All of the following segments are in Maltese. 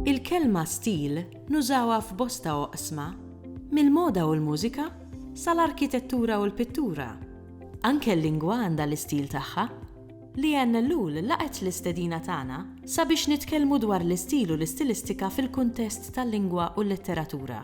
Il-kelma stil nużawha f'bosta oqsma, mill-moda u l-mużika sal-arkitettura u l-pittura. Anke l-lingwa għandha l-istil tagħha. Leanne Ellul laqgħet l-istedina tagħna sabiex nitkellmu dwar l-istil u l-istilistika fil-kuntest tal-lingwa u l-letteratura.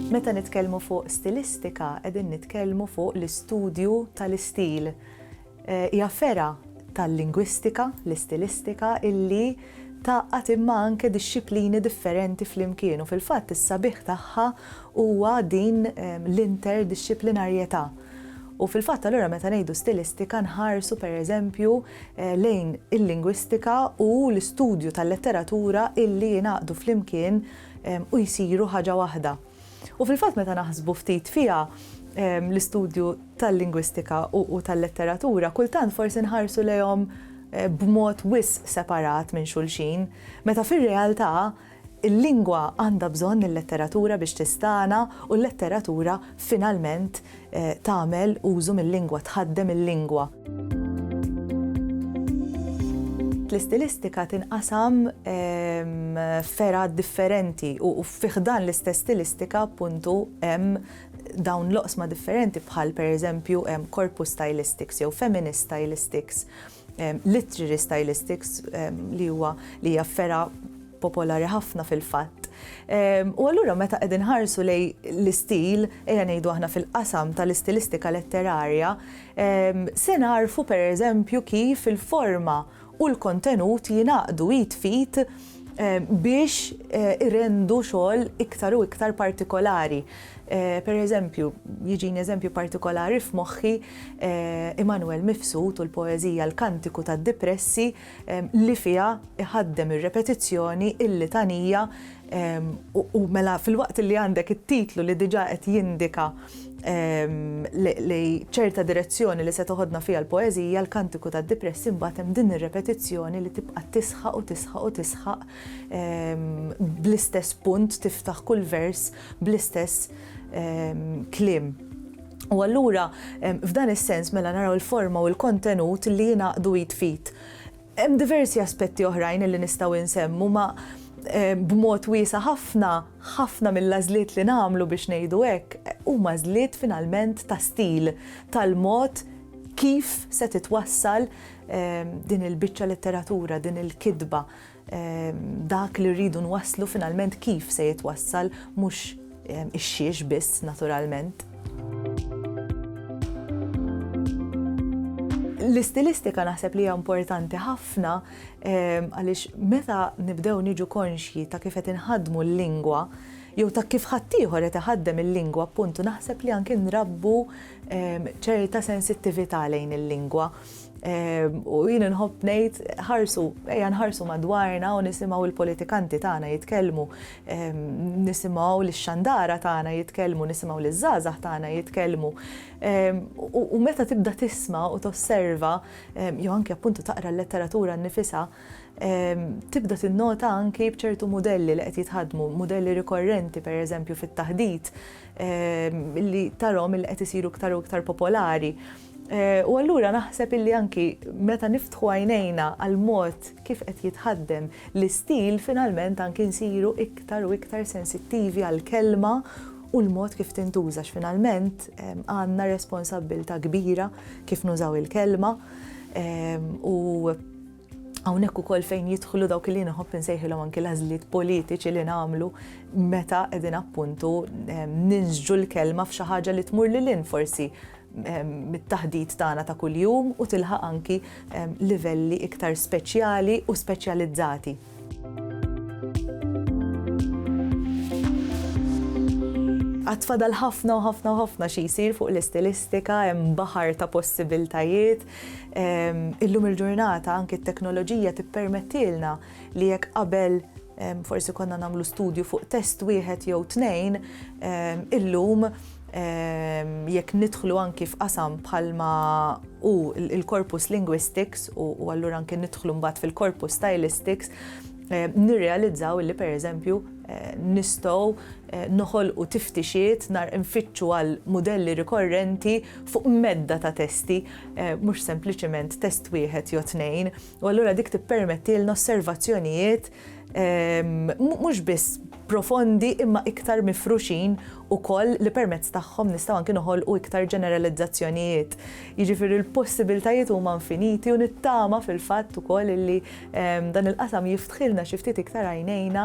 Meta nitkellmu fuq stilistika qegħdin nitkellmu fuq l-istudju tal-istil. Hija fergħa tal-lingwistika, l-istilistika, illi tgħaqqad imma anke dixxiplini differenti flimkien u fil-fatt is-sabiħ tagħha huwa din l-interdixxiplinarjetà. U fil-fatt allura meta ngħidu stilistika nħarsu pereżempju eh, lejn il-lingwistika u l-istudju tal-letteratura illi jingħaqdu flimkien eh, u jsiru ħaġa waħda. U fil-fatt meta naħsbu ftit fiha eh, l-istudju tal-lingwistika u tal-letteratura kultant forsi nħarsu lejhom b'mod wis separat minn xulxin, meta fir-realtà Il-lingwa għandha bżonn il-letteratura biex tistagħna u l-letteratura finalment tagħmel użu mil-lingwa, tħaddem il-lingwa. L-istilistika tinqasam f'fergħat differenti u fi ħdan l-istess stilistika appuntu hemm dawn l-oqsma differenti bħal pereżempju hemm corpus stylistics jew feminist stylistics. Literary Stylistics li huwa li hija fergħa popolari ħafna fil-fatt. U allura meta qegħdin ħarsu lej l-istil, ejja ngħidu aħna fil-qasam tal-istilistika letterarja, se nagħrfu pereżempju kif il-forma u l-kontenut jingħaqdu id f'id biex irendu xogħol iktar u iktar partikolari. Per eżempju, jiġini eżempju partikolari f'moħħi Immanuel Mifsud u l-poeżija L-Kantiku tad-Dipressi li fiha iħaddem ir-repetizzjoni, il-litanija u mela filwaqt li għandek it-titlu li diġà qed jindika li ċerta direzzjoni li se toħodna fiha l-poeżija L-Kantiku tad-Dipressi mbagħad hemm din ir-repetizzjoni li tibqa' tisħaq u tisħaq u tisħaq bl-istess punt tiftaħ kull vers bl-istess kliem. U allura f'dan is-sens mela naraw il-forma u l-kontenut li jingħaqdu id f'id. Hemm diversi aspetti oħrajn li nistgħu insemmu ma b'mod wiesa' ħafna, ħafna mill-għażliet li nagħmlu biex ngħidu hekk huma għażliet finalment ta' stil, tal-mod kif se titwassal din il-biċċa letteratura, din il-kitba. Dak li rridu nwasslu finalment kif se jitwassal mhux ix-xiex biss naturalment. L-istilistika naħseb li hija importanti ħafna ehm, għaliex meta nibdew niġu konxji ta' kif qed inħaddmu l-lingwa jew ta' kif ħaddieħor qed iħaddem il-lingwa appuntu naħseb li anke nrabbu ehm, ċerta sensittività lejn il-lingwa Ehm, u jien nħobb ngħid ħarsu, ejja nħarsu madwarna u nisimgħu l-politikanti tagħna jitkellmu, ehm, nisimgħu l-xandara tagħna jitkellmu, nisimgħu l-żgħażagħ tagħna jitkellmu. Ehm, u meta tibda tisma' u tosserva, jew anke appuntu taqra l-letteratura nnifisha, tibda tinnota anki bċertu modelli li qed jitħadmu, modelli rikorrenti per eżempju fit-taħdit li tarom il qed isiru iktar u iktar popolari. U allura naħseb illi anki meta niftħu għajnejna għal mod kif qed jitħaddem l-istil finalment anki nsiru iktar u iktar sensittivi għall-kelma u l-mod kif tintuża għax finalment għandna responsabbiltà kbira kif nużaw il-kelma u Hawnhekk ukoll fejn jidħlu dawk li nħobb insejħilhom anki l-għażliet politiċi li nagħmlu meta qegħdin appuntu ehm, ninżġu l-kelma f'xi ħaġa li tmur lil in forsi ehm, mit-taħdit tagħna ta' kuljum u tilħaq anki ehm, livelli iktar speċjali u speċjalizzati. Għatfadal ħafna u ħafna u ħafna xi jsir fuq l-istilistika, hemm baħar ta' possibiltajiet, Illum il-ġurnata anki t-teknoloġija tippermettilna li jekk qabel forsi konna nagħmlu studju fuq test wieħed jew tnejn, illum jekk nidħlu anki f'qasam bħalma hu l-corpus linguistics u allura anki nidħlu mbagħad fil-corpus stylistics, nirrealizzaw li pereżempju nistgħu noħolqu tiftixiet, nfittxu għal mudelli rikorrenti, fuq medda ta' testi, mhux sempliċement test wieħed jew tnejn, u allura dik tippermettilna osservazzjonijiet mhux biss profondi imma iktar mifruxin ukoll li permezz tagħhom nistgħu anki noħolqu iktar ġeneralizzazzjonijiet. Jiġifieri l-possibiltajiet huma infiniti u nittama fil-fatt ukoll illi dan il-qasam jiftħilna xi ftit iktar għajnejna